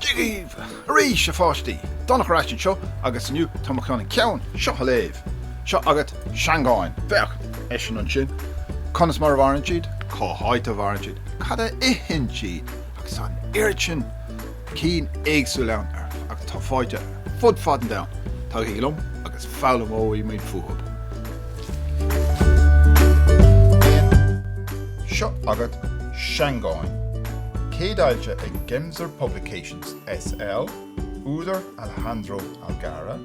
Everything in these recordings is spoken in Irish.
Dia daoibh arís a pháistí! Donncha ar ais anseo agus inniu tá mé chun an ceann seo a léamh. Seo agat seangáin. Féach, eisean ansin. Conas mar a mhaireann siad? Cá háit a mhaireann siad? Cad a itheann siad? Agus an oiread sin cinn éagsúla ann agus tá faighte fud fad an domhain tagaigí liom agus foghlaimeoidh muid fúthu. Seo agat Seangáin, céadfhoilsithe ag Gemser Publications SL, údar Alejandro Algarra,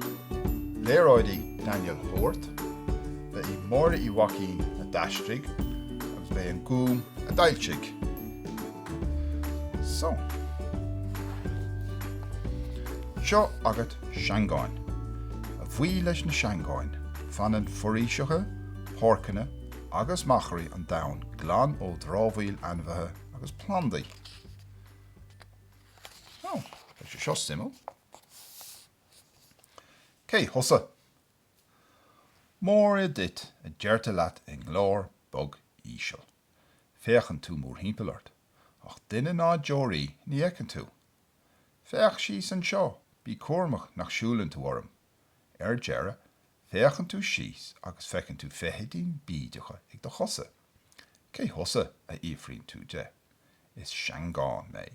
léaráidí Daniel Howarth, b'í Máire Uí Mhaicín a d'aistrigh agus b'é An Gúm a d'fhoilsigh. So. Seo agat seangáin. A bhuí leis na seangáin, fanann foraoiseacha, páirceanna agus machairí an domhain glan ó dhrámhaíl ainmhithe agus plandaí. Ó, tá sé seo suimiúil. Cé thusa? Móra duit, a deirtear leat i nglór bog íseal. Féachann tú mórthimpeall ort, ach duine ná deoraí ní fheiceann tú. Féach síos anseo, bí cúramach nach siúlann tú orm. Ar deireadh, féachann tú síos agus feiceann tú feithidín bídeach ag do chosa. Cé thusa? a fhiafraíonn tú de. Is seangán mé.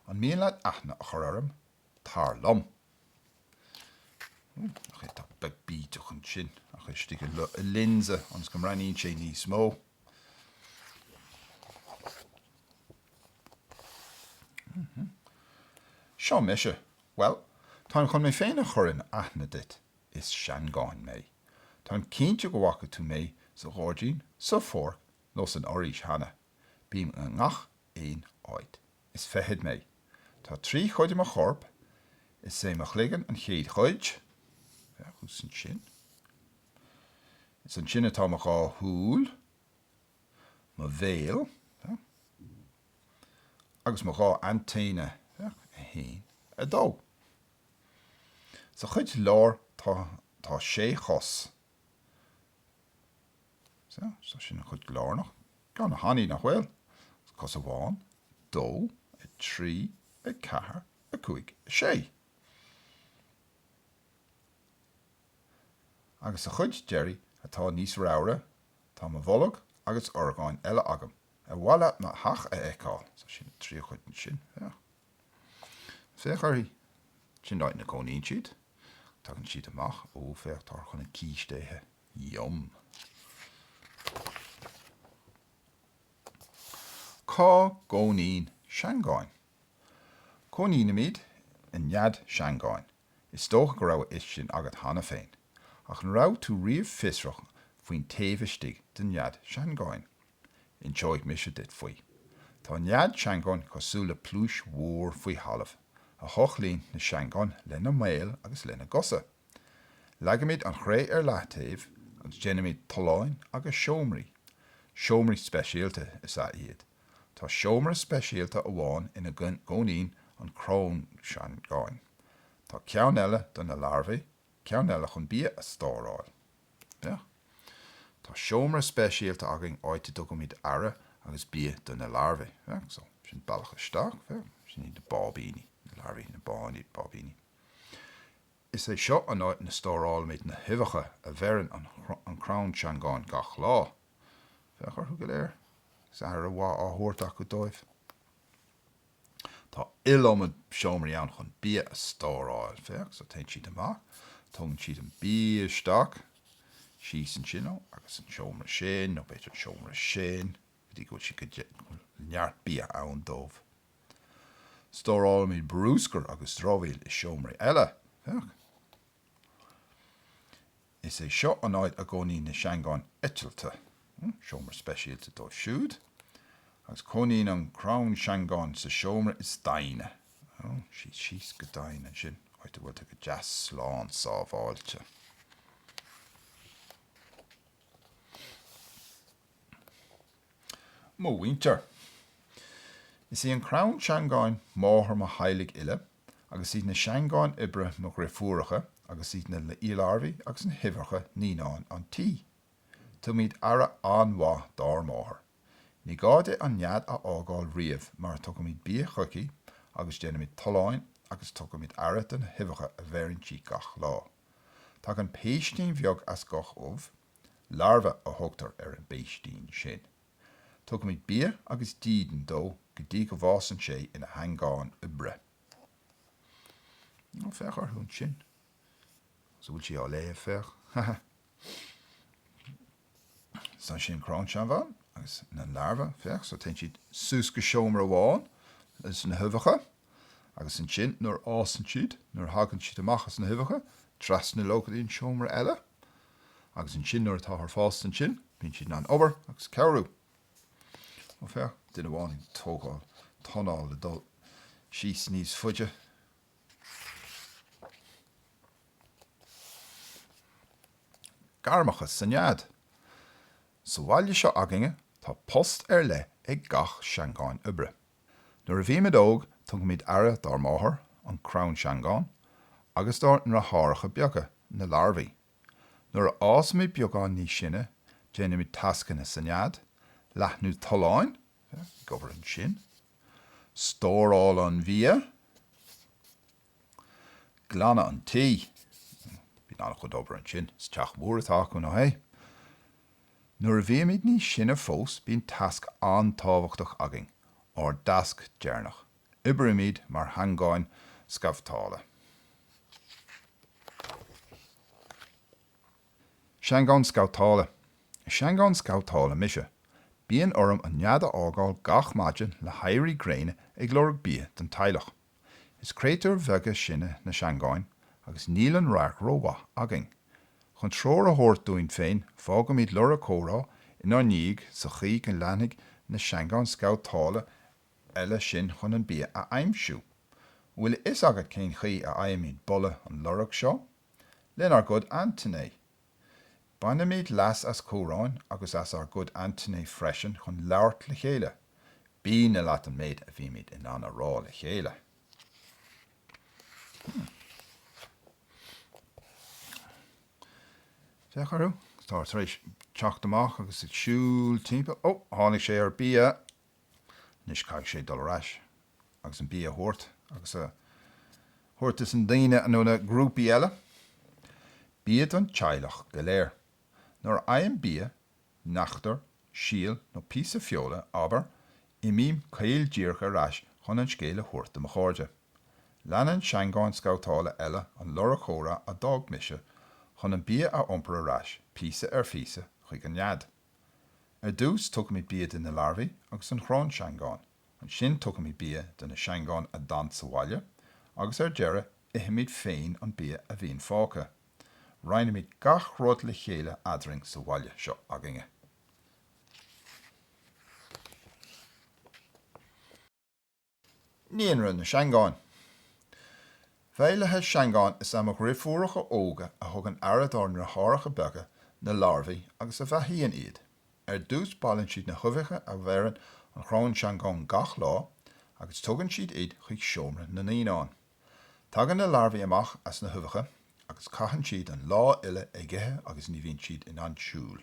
An mian leat aithne a chur orm? Tar liom. Hú, nach é atá beag bídeach ansin ach istigh i lionsa, ionas go mbreathnaíonn sé níos mó. Seo mise. Bhuel, táim chun mé féin a chur in aithne duit. Is seangán mé. Táim cinnte go bhfaca tú mé sa ghairdín, sa pháirc nó san fhoraois cheana. Bím i ngach aon áit. Is feithid mé. Tá trí chuid i mo chorp. Is é mo chloigeann an chéad chuid. Thuas ansin. Is ansin atá mo dhá shúil, mo bhéal agus mo dhá aintéine. 1, 2. Sa chuid láir tá sé chos. Sea, so sin an chuid lárnach. De na hainmhithe nach bhfuil? Cos amháin, dó, a trí, a ceathair, a cúig, a sé. Agus sa chuid deiridh atá níos raimhre, tá mo bholg agus orgáin eile agam ar mhaith leat mo theach a fheiceáil. So sin trí chuid ansin. Féach. Féach uirthi. Sin áit ina gcónaíonn siad. Tagann siad amach. Ó, féach, táthar chun an císte a ithe. Yum. Cá gcónaíonn seangáin? Cónaímid i nead seangáin. Is dócha go raibh a fhios sin agat cheana féin, ach an raibh tú riamh fiosrach faoin taobh istigh de nead seangáin? Inseoidh mise duit faoi. Tá nead seangáin cosúil le pluais mhór faoi thalamh, a thochlaíonn na seangáin lena mbéil agus lena gcosa. Leagaimid an chré ar leathtaobh agus déanaimid tolláin agus seomraí. Seomraí speisialta is ea iad. Tá seomra speisialta amháin ina gcónaíonn an cráinseangán. Tá ceann eile do na larbhaí, ceann eile chun bia a stóráil. Tá seomra speisialta againn áit a dtugaimid aire agus bia do na larbhaí. So sin bealach isteach. Sin iad na báibíní, na larbhaí, na báibíní. Is é seo an áit ina stórálaimid na huibheacha a bheireann an cráinseangán gach lá. Féach orthu go léir. Is aire mhaith á thabhairt acu dóibh. Tá iliomad seomraí ann chun bia a stóráil. Féach, so téann siad amach, tógann siad an bia isteach, síos ansin, ó, agus an seomra sin, nó b'fhéidir an seomra sin, go dtí go bhfuil siad go, go bhfuil neart bia ann dóibh. Stórálaimid brúscar agus dramhaíl i seomraí eile. Féach. Is é seo an áit a gcónaíonn na seangáin eitilte. Seomra speisialta dóibh siúd. Agus cónaíonn an cráinseangán sa seomra is doimhne. Síos, síos go doimhin ansin, áit a bhfuil tú go deas slán sábháilte. Mo mhuintir. Is í an cráinseangán máthair mo theaghlaigh uile agus iad na seangáin oibre mo dhriofúracha agus iad na larbhaí agus na huibheacha naíonáin an tí. Tugaimid aire an-mhaith dár máthair. Ní gá di an nead a fhágáil riamh mar tugaimid bia chuici agus déanaimid tolláin agus tugaimid aire do na huibheacha a bheireann sí gach lá. Tagann péistín bheag as gach ubh Larva a thugtar ar an bpéistín sin. Tugaimid bia agus dídean dó go dtí go bhfásann sé ina sheangán oibre. Ó, féach orthu ansin. An bhfuil sí á léamh? Féach. Ha ha. Seo ansin an crann seangán agus na larva, féach, so téann siad suas go seomra amháin leis na huibheacha agus ansin nuair a fhásann siad, nuair a thagann siad amach as na huibheacha, trasna leo go dtí an seomra eile. Agus ansin nuair atá siad fásta ansin, bíonn siad in ann obair agus cabhrú. Ó féach, duine amháin ag tógáil tolláin le dul síos níos faide. Gairmeacha sa nead. Sa bhaile seo againne, tá post ar leith ag gach seangán oibre. Nuair a bhímid óg tugaimid aire dár máthair, an crann seangán, agus dár ndeartháireacha beaga, na larbhaí. Nuair a fhásaimid beagán níos sine déanaimid tascanna sa nead, leathnú tolláin, ag obair ansin, stóráil an bhia, Glanadh an tí. Bíonn an-chuid obair ansin. Is teach mór atá acu, nó hé? Nuair a bhímid níos sine fós bíonn tasc an-tábhachtach againn, ár dtasc deireanach. Oibrímid mar sheangáin scabhtála. Seangán scabhtála. Is seangán scabhtála mise, bíonn orm an nead a fhágáil gach maidin le héirí gréine ag lorg bia don teaghlach. Is créatúir bheaga sinne na seangáin agus níl an radharc rómhaith againn. Chun treoir a thabhairt dúinn féin fágaimid lorg cumhra inár ndiaidh sa chaoi go leanfaidh na seangáin scabhtála eile sinn chun an bia a aimsiú. An bhfuil a fhios agat cén chaoi a fhaighimid boladh an loirg seo? Lenár gcuid aintéiní! Bainimid leas as cumhráin agus as ár gcuid aintéiní freisin chun labhairt le chéile. B'ionadh leat an méid a bhímid in ann a rá le chéile. Féach orthu, tá siad tar éis teacht amach agus ag siúl timpeall. Ó, tháinig sé ar bia Anois caithfidh sé dul ar ais agus an bia a thabhairt agus a thabhairt dos na daoine nó na grúpaí eile bia don teaghlach go léir. Nuair a fhaighim bia, neachtar, síol nó píosa feola, abair, imím caol díreach ar ais chun an scéal a thabhairt do mo chairde. Leanann seangáin scabhtála eile an lorg cumhra a d'fhág mise chun an bia a iompar ar ais píosa ar phíosa chuig an nead. Ar dtús tugaimid bia do na larbhaí agus an chráin seangán, ansin tugaimid bia do na seangáin a d'fhan sa bhaile agus ar deireadh ithimid féin an bia a bhíonn fágtha. Roinnimid gach rud le chéile eadrainn sa bhaile seo againne. Naíonra na Seangáin. Feighlithe seangáin is ea mo dheirfiúracha óga a thugann aire dár ndeartháireacha beaga, na larbhaí, agus a bheathaíonn iad. Ar dtús baileann siad na huibheacha a bheireann an chráin seangán gach lá agus tugann siad iad chuig seomra na naíonán. Tagann na larbhaí amach as na huibheacha agus caitheann siad an lá uile ag ithe agus ní bhíonn siad in ann siúl.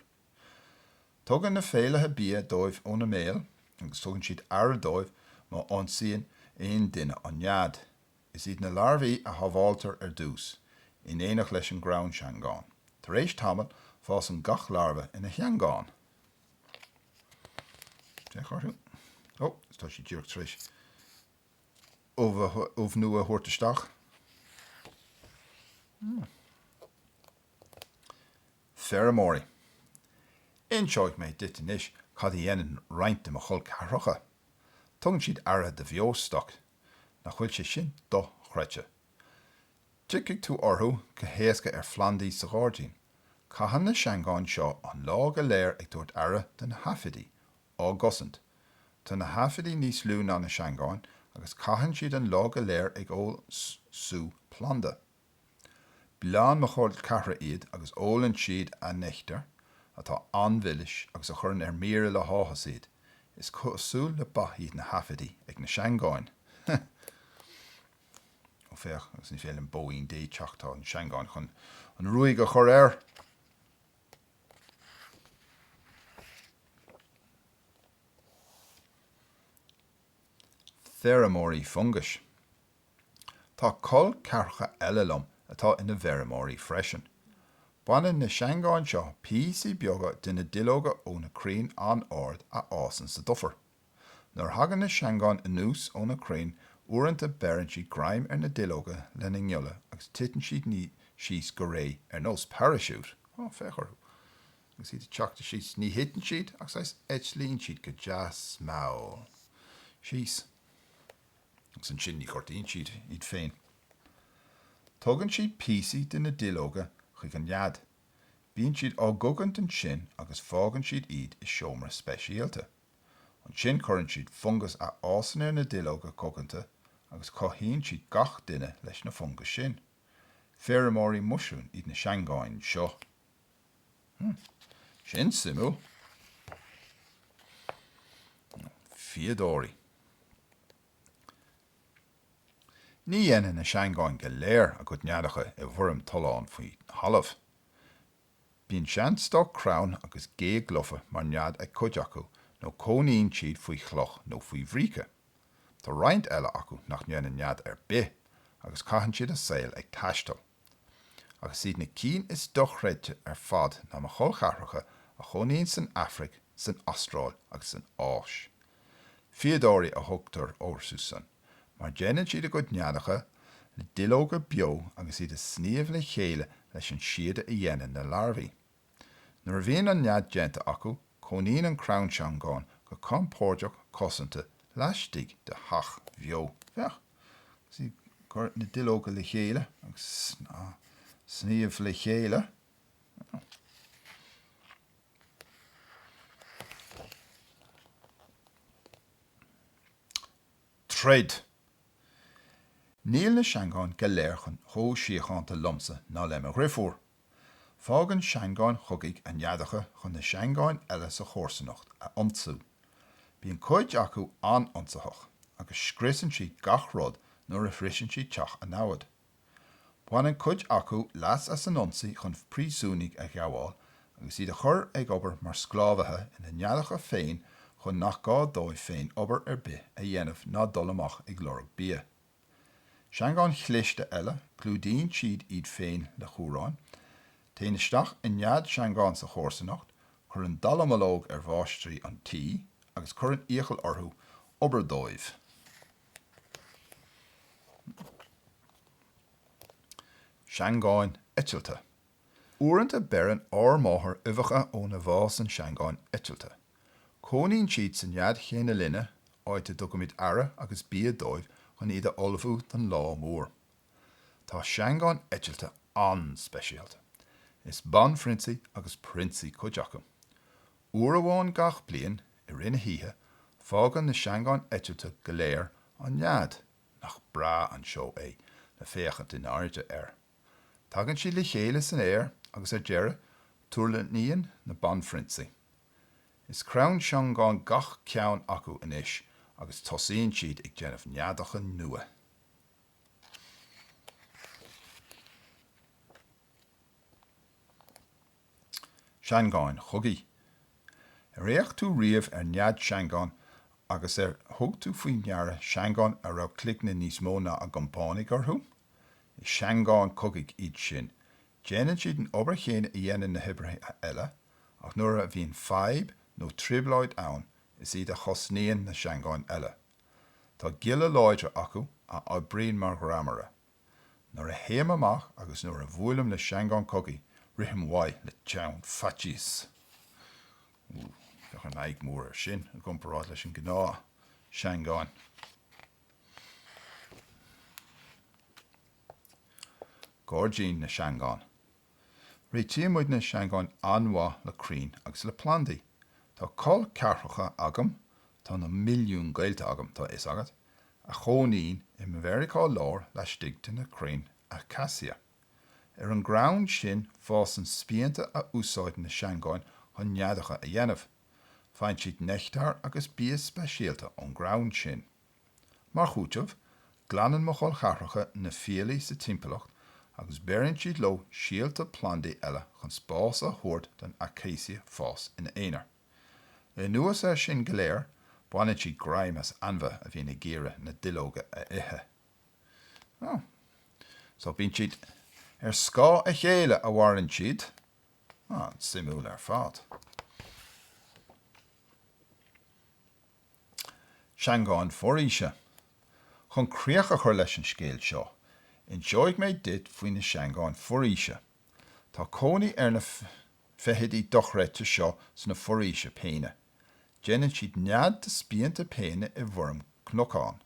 Tugann na feighlithe bia dóibh óna mbéal agus tugann siad aire dóibh má ionsaíonn aon duine an nead. Is iad na larbhaí a shábháiltear ar dtús, in éineacht leis an gcráin seangán. Tar éis tamaill, fásann gach larbha ina sheangán. Féach orthu. Ó, tá sí díreach tar éis ubh nua a thabhairt isteach. Feirmeoirí. Inseoidh mé duit anois cad a dhéanann roinnt de mo chol ceathracha. Tugann siad aire do bheostoc. Nach bhfuil sé sin dochreidte. Tiocfaidh tú orthu go héasca ar phlandaí sa ghairdín. Caitheann na seangáin seo an lá go léir ag tabhairt aire do na haifidí, á gcosaint. Tá na haifidí níos lú ná na seangáin agus caitheann siad an lá go léir ag ól sú planda. Bleánn mo chol ceathracha iad agus ólann siad an neachtar atá an-mhilis agus a chuireann ar mire le háthas iad, is cosúil le ba iad na haifidí ag na seangáin. Ó féach, agus ní féidir leis an mbóín Dé teacht, tá na seangáin chun an ruaig a chur air! Feirmeoirí fungais. Tá col ceathracha eile liom atá ina bhfeirmeoirí freisin. Baineann na seangáin seo píosaí beaga de na duilleoga ó na crainn an-ard a fhásann sa dufair. Nuair a thagann na seangáin anuas ó na crainn uaireanta beireann siad greim ar na duilleoga lena ngialla agus titeann siad síos go réidh ar nós paraisiút, á, féach orthu agus iad ag teacht síos, ní thiteann siad ach saghas eitlíonn siad go deas mall síos. agus ansin ní ghortaíonn siad iad féin. Tugann siad píosaí de na duilleoga chuig an nead. Bíonn siad á gcogaint ansin agus fágann siad iad i seomra speisialta. Ansin cuireann siad fungas a fhásann ar na duilleoga coganta agus cothaíonn siad gach duine leis na fungais sin. Feirmeoirí muisriúin iad na seangáin seo. Sin suimiúil. Fíodóirí. Ní dhéanann na seangáin go léir a gcuid neadacha i bhfoirm tollán faoi thalamh. Bíonn seanstoc crainn agus géag lofa mar nead ag cuid acu nó cónaíonn siad faoi chloch nó faoi bhríce. Tá roinnt eile acu nach ndéanann nead ar bith agus caitheann siad a saol ag taisteal. Ach is iad na cinn is dochreidte ar fad ná mo cholcheathracha a chónaíonn san Afraic, san Astráil agus san Áis. Fíodóirí a thugtar orthusan, mar déanann siad a gcuid neadacha le duilleoga beo agus iad á sníomh le chéile leis an síoda a dhéanann na larbhaí. Nuair a bhíonn an nead déanta acu, cónaíonn an chráin seangán go compóirdeach cosanta laistigh de theach bheo. Féach, agus í ag cur na duilleoga le chéile agus á sníomh le chéile. Troid. Níl na seangáin go léir chomh síochánta liomsa ná le mo dheirfiúr. Fágann seangáin chogaidh a neadacha chun na seangáin eile sa chomharsanacht a ionsú. Bíonn cuid acu an-ionsaitheach agus scriosann siad gach rud nuair a shroiseann siad teach a namhad. Baineann cuid acu leas as an ionsaí chun príosúnaigh a ghabháil agus iad a chur ag obair mar sclábhaithe ina neadacha féin chun nach gá dóibh féin obair ar bith a dhéanamh ná dul amach ag lorg bia. Seangáin chliste eile, clúdaíonn siad iad féin le cumhrán, téann isteach i nead seangán sa chomharsanacht, cuireann dallamullóg ar mháistrí an tí agus cuireann iachall orthu obair dóibh. Seangáin eitilte. Uaireanta beireann ár máthair uibheacha óna bhfásann seangáin eitilte. Cónaíonn siad sa nead chéanna linne, áit a dtugaimid aire agus bia dóibh chun iad a ullmhú don lá mór. Tá seangáin eitilte an-speisialta. Is banphrionsaí agus prionsaí cuid acu. Uair amháin gach bliain, i rith na hoíche, fágann na seangáin eitilte go léir an nead, nach breá an seó é le féachaint in airde air! Tagann siad le chéile san aer agus ar deireadh tuirlingíonn na banphrionsaí. Is cráin seangán gach ceann acu anois agus tosaíonn siad ag déanamh neadacha nua. Seangáin chogaidh. Ar fhéach tú riamh ar nead seangán agus ar thug tú faoi ndeara seangáin a raibh cloigne níos mó ná a gcompánaigh orthu? Is seangáin cogaidh iad sin. Déanann siad an obair chéanna a dhéanann na hoibrithe eile, ach nuair a bhíonn fadhb nó trioblóid ann, is iad a chosnaíonn na seangáin eile. Tá gialla láidre acu a oibríonn mar ghreamaire. Nuair a théim amach agus nuair a bhuailim le seangán cogaidh, rithim uaidh le teann faitís. Bheadh an aghaidh mór air sin i gcomparáid leis an gnáthsheangáin. Gairdín na Seangán. Réitíonn muid na seangáin an-mhaith le crainn agus le plandaí. Tá col ceathracha agam, tá na milliúin gaolta agam, tá a fhios agat, a chónaíonn i Meiriceá Láir laistigh de na crainn acacia. Ar an gcrann sin fásann spíonta a úsáideann na seangáin chun neadacha a dhéanamh. Faigheann siad neachtar agus bia speisialta ón gcrann sin. Mar chúiteamh, glanann mo chol ceathracha na fiailí sa timpeallacht agus beireann siad leo síolta plandaí eile chun spás a thabhairt don acacia fás ina aonar. Le anuas air sin go léir, baineann siad greim as ainmhithe a bhíonn ag iarraidh na duilleoga a ithe. So bíonn siad ar scáth a chéile a mhaireann siad An-suimiúil ar fad. Seangáin foraoise. Chun críoch a chur leis an scéal seo, inseoidh mé duit faoi na seangáin foraoise. Tá cónaí ar na feithidí dochreidte seo sna foraoisí péine. Déanann siad nead de spíonta péine i bhfoirm cnocáin.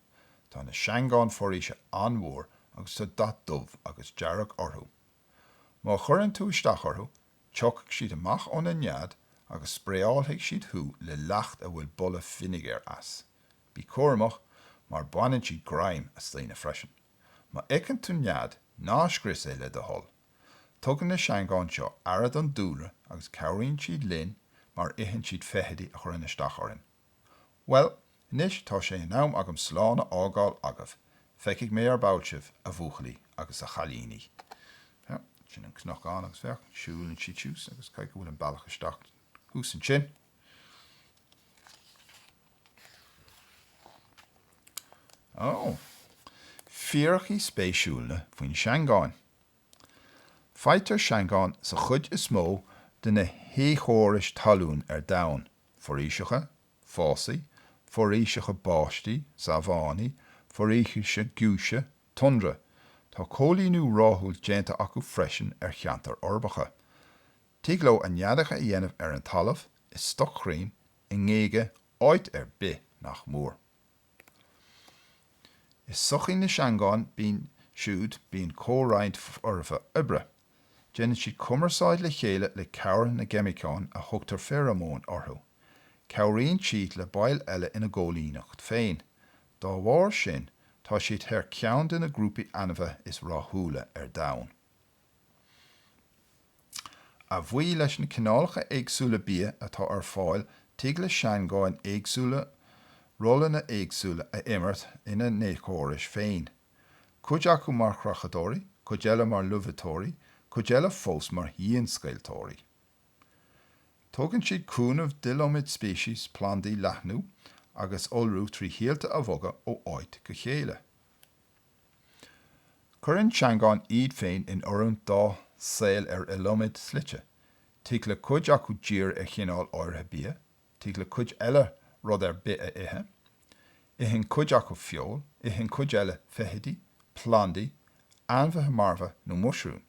Tá na seangáin foraoise an-mhór agus tá dath dubh agus dearg orthu. Má chuireann tú isteach orthu, tiocfaidh siad amach óna nead agus spraeálfaidh siad thú le leacht a bhfuil boladh fínéagair as. Bí cúramach, mar baineann siad greim as daoine freisin. Má fheiceann tú nead, ná scrios é le do thoil! Tugann na seangáin seo aire don dúlra agus cabhraíonn siad linn mar itheann siad feithidí a chuireann isteach orainn. Bhuel, anois tá sé in am agam slán a fhágáil agaibh. Feicfidh mé ar ball sibh, a bhuachaillí agus a chailíní. Sea, sin an cnocán agus féach, siúlann siad síos agus caithfidh go bhfuil an bealach isteach thuas ansin. Ó, fíricí spéisiúla faoin seangán. Faightear seangáin sa chuid is mó de na héiceachórais talún ar domhan, foraoiseacha, fásaigh, foraoiseacha báistí, sabhánaí, foraoise giúise, tundra. Tá coilíniú rathúil déanta acu freisin ar cheantair uirbeacha. Tig leo a neadacha a dhéanamh ar an talamh, i stoc crainn, i ngéaga, áit ar bith nach mór. I sochaí na seangán bíonn siúd bíonn comhroinnt foirfe oibre. Déanann siad cumarsáid le chéile le cabhair na gceimiceán a thugtar féaramóin orthu. Cabhraíonn siad le baill eile ina gcoilíneacht féin. Dá bharr sin, tá siad ar cheann de na grúpaí ainmhithe is rathúla ar domhan. A bhuí leis na cineálacha éagsúla bia atá ar fáil, tig le seangáin éagsúla rólanna éagsúla a imirt ina n-éiceachórais féin. cuid acu mar chreachadóirí, cuid eile mar luibhiteoirí, cuid eile fós mar dhianscaoilteoirí. Tugann siad cúnamh don iliomad speicis plandaí leathnú agus iolrú trí shíolta a bhogadh ó áit go chéile. Cuireann seangáin iad féin in oiriúint dá saol ar iliomad slite, tig le cuid acu díriú ar chineál áirithe bia, Tig le cuid eile rud ar bith a ithe. Itheann cuid acu feoil, itheann cuid eile feithidí, plandaí, ainmhithe marbha nó muisriúin.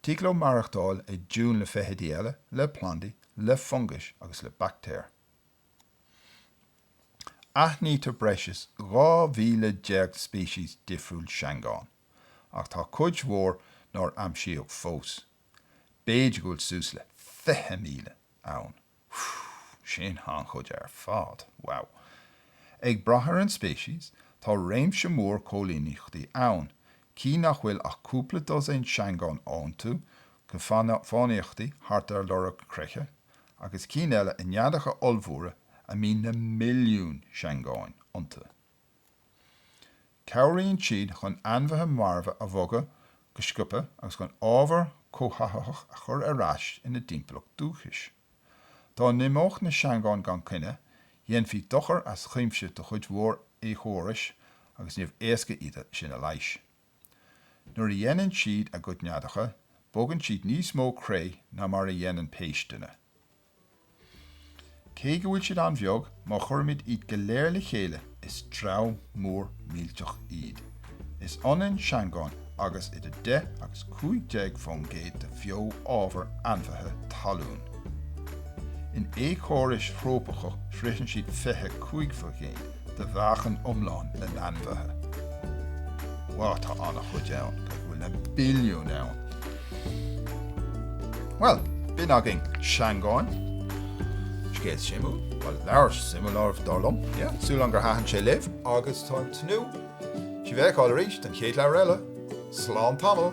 Tig leo maireachtáil i dtiúin le feithidí eile, le plandaí, le fungais agus le baictéir. Aithnítear breis is 12,000 speicis difriúil seangán, ach tá cuid mhór nár aimsíodh fós. B'fhéidir go bhfuil suas le 20,000 ann. Phew! Sin an-chuid ar fad. Wow! Ag brath ar an speicis, tá réimse mór coilíneachtaí ann, cinn nach bhfuil ach cúpla dosaen seangán iontu, ag fánaíocht thart ar lorg creiche, agus cinn eile i neadacha ollmhóra a mbíonn na milliúin seangáin iontu. Cabhraíonn siad chun ainmhithe marbha a bhogadh go sciobtha agus chun ábhar cothaitheach a chur ar ais ina dtimpeallacht dúchais. Dá n-imeodh na seangáin gan coinne, dhéanfaí dochar as cuimse do chuid mhór éiceachóras agus níorbh éasca iad sin a leigheas. Nuair a dhéanann siad a gcuid neadacha, bogann siad níos mó cré ná mar a dhéanann péisteanna. Cé go bhfuil siad an-bheag, má chuirimid iad go léir le chéile is dream mór millteach iad. Is ionann seangáin agus idir 10 agus 15 fán gcéad de bheo-ábhar ainmhithe talún. In éiceachórais thrópaiceacha sroicheann siad 25 fán gcéad. de mheáchan iomlán na n-ainmhithe. Bhuel, tá an-chuid ann. Go bhfuil na billiúin ann? Bhuel, b'in agaibh seangáin, scéal suimiúil, bhuel, leabhar suimiúil ar aon nós, dar liom, yeah, súil agam gur thaitin sé libh. Agus táim ag tnúth. Sibh a fheiceáil arís don chéad leabhar eile. Slán tamall!